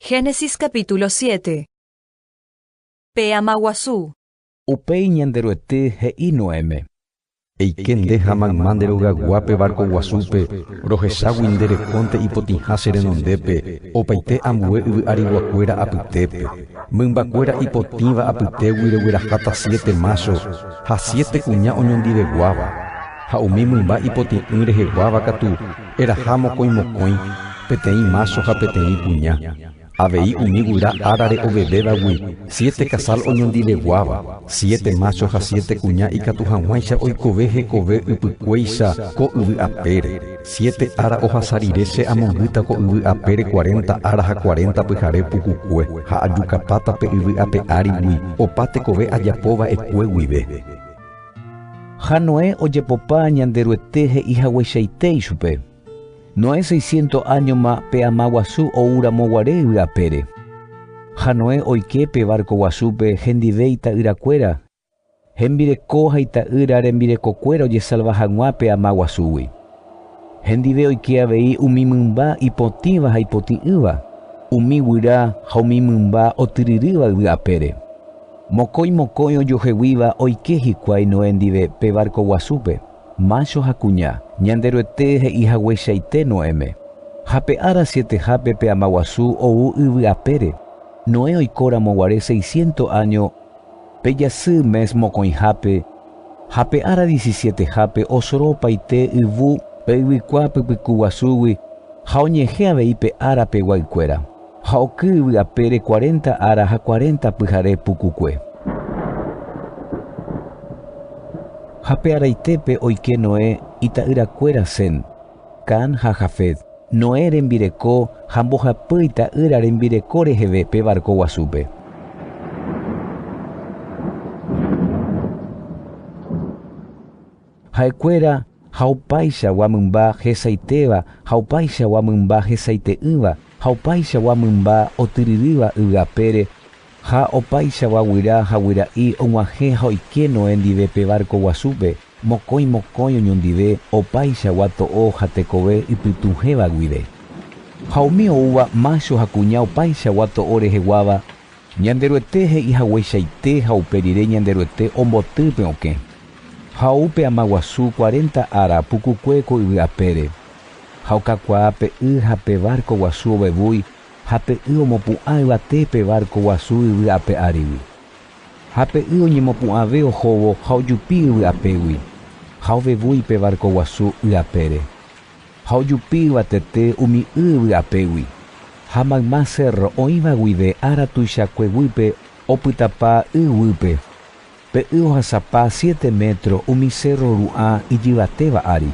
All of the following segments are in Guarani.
Génesis capítulo siete. Pe ama guasu. Upéi Ñanderuete he'i Noéme, Eike nde ha mayma nde rogayguá pe várko guasúpe, rohechágui nde rekónte ipotĩha che renondépe opaite ambue yvy ariguakuéra apytépe, mymbakuéra ipotĩva apytégui regueraháta siete mácho ha siete kuña oñondiveguáva, ha umi mymba ipoti'ỹ reheguáva katu Eraha mokõi mokõi, peteĩ mácho ha peteĩ kuña, avei umi guyra árare ovevévagui siete kasál oñondiveguáva, siete mácho ha siete kuña ikatu hag̃uáicha oikove hekove ypykuéicha ko yvy apére. Siete ára ohasa rire che amongýta ko yvy apére cuarenta ára ha cuarenta pyhare pukukue, ha ajukapáta pe yvy ape árigui opa tekove ajapo va'ekue guive. Ha Noé ojepopa Ñanderuete he'i hagueichaite ichupe. Noé seisciento áñoma pe ama guasu ou ramo guare yvy apére. Ha Noé oike pe várko guasúpe hendive ita'ýra kuéra, hembireko ha ita'ýra rembireko kuéra ojesalva hag̃ua pe ama guasúgui. Hendive oike avei umi mymba ipotĩva ha ipotĩ'ỹva, umi guyra ha umi mymba otyryrýva yvy apére. Mokõi mokõi ojoheguíva oike hikuái Noé ndive pe várko guasúpe, mácho ha kuña. Ñanderuete he'i hagueichaite Noéme, Ha pe ára sietehápe pe amaguasu ou yvy apére. Noé oikóramo guare seisciento áño pe jasy mes mokõihápe, ha pe ára diesisietehápe osoro opaite yvu pe yvykua pypykuguasúgui ha oñehẽ avei pe ára pe guaykuéra. Ha oky yvy apére cuarenta ára ha cuarenta pyhare pukukue. Ha pe araitépe oike Noé ita'yrakuéra Sem, Cam ha Jafet, Noé rembireko ha mbohapy ita'ýra rembireko reheve pe barco guasúpe. Ha'ekuéra ha opaichagua mymba hesaitéva ha opaichagua mymba hesaite'ỹva ha opaichagua mymba otyryrýva yvy apére, ha opaichagua guyra ha guyra'i og̃uahẽ ha oike Noé ndive pe várko guasúpe, mokõi mokõi oñondive opaichagua to'o ha tekove ipytũhéva guive. Ha umi oúva mácho ha kuña opaichagua to'o reheguáva Ñanderuete he'i hagueichaite ha upe rire Ñanderuete omboty pe okẽ. Ha ou pe ama guasu cuarenta ára pukukue ko yvy apére. Ha okakuaa pe y ha pe várko guasu ovevúi ha pe y omopu'ã yvate pe várko guasu yvy ape árigui. Ha pe y oñemopu'ãve ohóvo ha ojupi yvy apégui, ha ovevúi pe várko guasu y apére. Ha ojupi yvatete umi y vy'apégui, ha mayma cérro oĩva guive ára tuichakue guýpe opytapa y guýpe, pe y ohasapa siete métro umi cérro ru'ã ijyvatéva ári,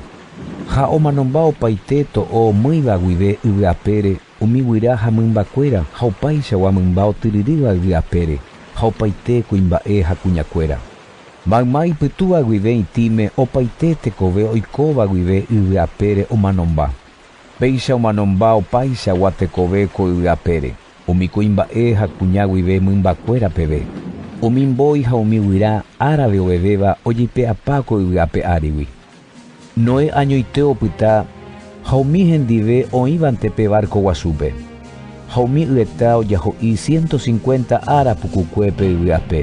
ha omanomba opaite to'o mýiva guive yvy'apére, umi guyra ha mymbakuéra ha opaichagua mymba otyryrýva yvy apére, ha opaite kuimba'e ha kuñakuéra. Mayma ipytúva guive itĩme opaite tekove oikóva guive yvy apére omanomba. Péicha omanomba opaichagua tekove ko yvy apére, umi kuimba'e ha kuña guive mymbakuéra peve. Umi mbói ha umi guyra árabe ovevéva ojeipe'apa ko yvy ape árigui. Noé añoite opyta ha umi hendive oĩvante pe várko guasúpe, ha umi yeta ojaho'i siénto sinkuénta ára pukukue pe yvy ape.